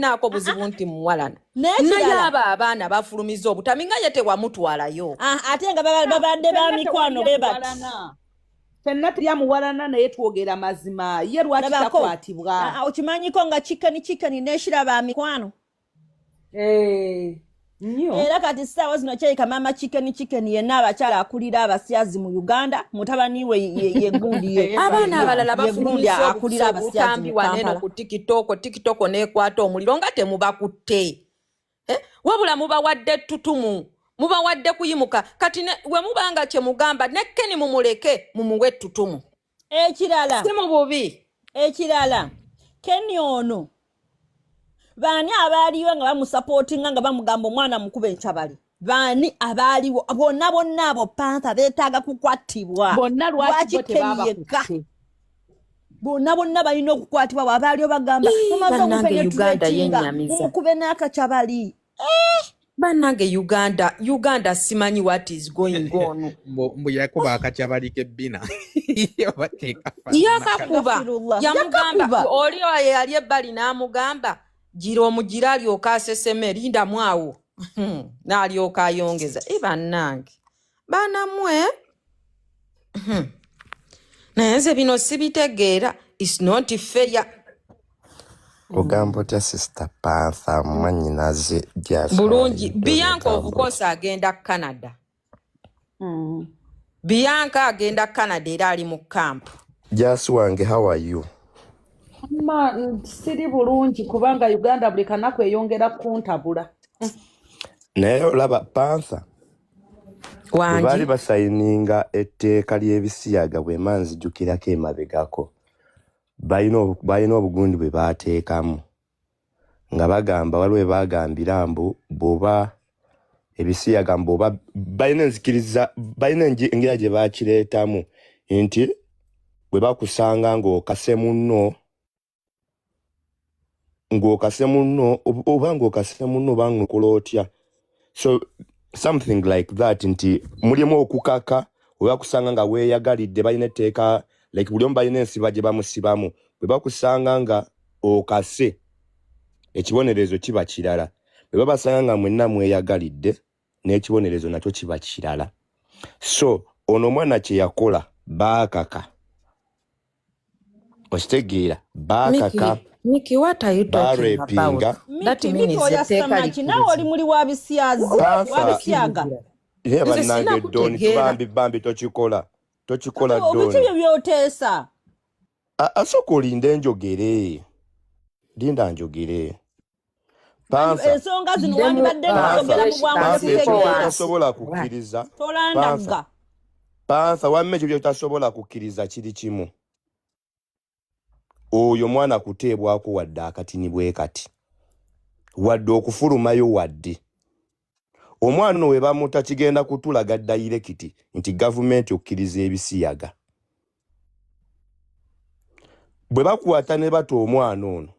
naako obuzibu nti muwalana naye abo abaana bafulumiza obutami nga ye tewamutwalayo ah, ate nga babadde ba mikwano bebati fenna tulya muwalana naye twogera mazima ye lwaki takwatibwa ah, ah, okimanyiko nga kikani kikani neshira ba mikwano eh. era kati saawa zino kyeyika maama chicken chicken yenna abakyala akulira abasyazi mu uganda mutabani we yegundi ye abaana abalala bafulumisa obutambi waneno ku tikitoko tikitoko nekwata omuliro nga temubakutte eh, wabula mubawadde tutumu mubawadde kuyimuka kati wemubanga kyemugamba nekkeni mumuleke mumuwe tutumu ekirala si mu bubi ekirala keni ono baani abaaliyo nga bamusapootinga nga bamugamba omwana mukube encabali baani abaaliwo bonna bonna abo pantha beetaaga kukwattibwa bonna lwaki keni yekka bonna bonna balina okukwatibwa wabaali obagamba mumaze omupenetratinga mumukube n'akacabali banange uganda uganda simanyi what is going on mbu yakuba akakyabalike bina yakakuba yamugamba oli oyo yali ebbali n'amugamba gira omugira alyoka aseseme lindamu awo hmm, n'alyoka ayongeza e bannange banamwe hmm. naye nze bino sibitegeera is not fair ogamba otya sister pantha mwanyinaze bulungi biyanka ovukosa agenda canada mm. biyanka agenda canada era ali mu camp jasi wange how are you ma siri bulungi kubanga uganda buli kanaku eyongera kuntabula naye olaba pantha wangi baali basayininga etteeka ly'ebisiyaga bwema nzijukirako emabegako balina obu- balina obugundi bwe baateekamu nga bagamba waliwo bwe baagambira mbu bw'oba ebisiyaga mbu oba balina enzikiriza balina engi- engeri gye baakireetamu nti bwe bakusanga ng'okase munno ng'okase munno oba ng'okase munno oba ng'okola otya so something like that nti mulimu okukaka oba kusanga nga weeyagalidde balina etteeka like buli omu balina ensiba gye bamusibamu bwe bakusanga nga okase ekibonerezo kiba kirala bwe babasanga nga mwenna mweyagalidde n'ekibonerezo nakyo kiba kirala so ono omwana kyeyakola baakaka okitegeera baakaka barepinga nawe oli muli wa bisyaga naye bannange doni tubambi bambi tokikola tokikola doni ebyo byoteesa asooka olinde njogere linda njogere ensonga zino wandibadde nogera mu bwanguotasobola kukkiriza tolandagga pansa wamma ekyo byotasobola kukkiriza kiri kimu oyo mwana kuteebwako wadde akatini bwe kati wadde okufulumayo wadde omwana ono webamuta kigenda kutulaga dayirekiti nti gavumenti okkiriza ebisiyaga bwe bakwata ne bata omwana ono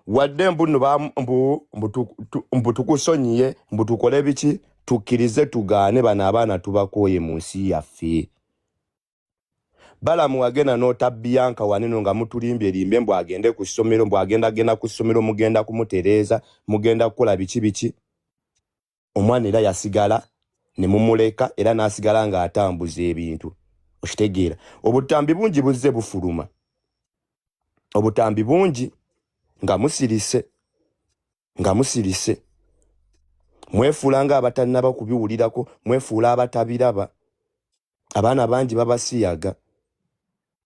wadde mbuno mbutukusonyiye mbutukole biki tukkirize tugaane bano abaana tubakoye mu nsi yaffe balamu wagenda nota bianka waneno nga mutulimbye limbe mbu agende ku ssomero mbu agenda genda ku ssomero mugenda kumutereeza mugenda kukola biki biki omwana era yasigala ne mumuleka era n'asigala ng'atambuza ebintu okitegeera obutambi bungi buzze bufuluma obutambi bungi nga musirise nga musirise mwefuula nga abatannaba kubiwulirako mwefuula abatabiraba abaana bangi babasiyaga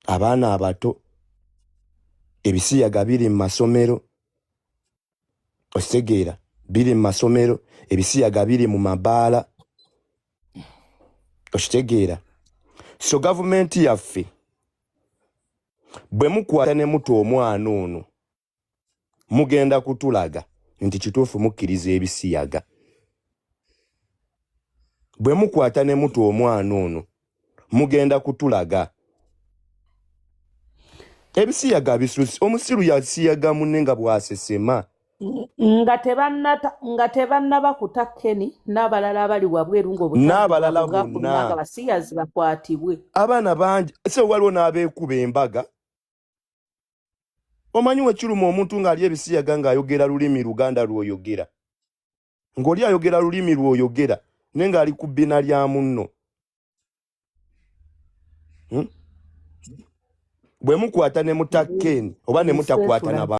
abaana abato ebisiyaga biri mu masomero okitegeera biri mu masomero ebisiyaga biri mu mabaala okitegeera so gavumenti yaffe bwe mukwata ne mutu omwana ono mugenda kutulaga nti kituufu mukkiriza ebisiyaga bwe mukwata ne mutu omwana ono mugenda kutulaga ebisiyaga bisusi omusiru yasiyaga munne nga bwasesema nga tebannaba kuta keni n'abalala abali wabweru ngaobutn'abalala bonna basiyazi bakwatibwe abaana bangi se waliwo n'abeekuba embaga omanyi wekiruma omuntu ng'ali ebisiyaga ng'ayogera lulimi luganda lw'oyogera ng'oli ayogera lulimi lw'oyogera naye ng'ali ku bbina lya munno hmm? bwe mukwata ne mutakkeni oba ne mutakwata naba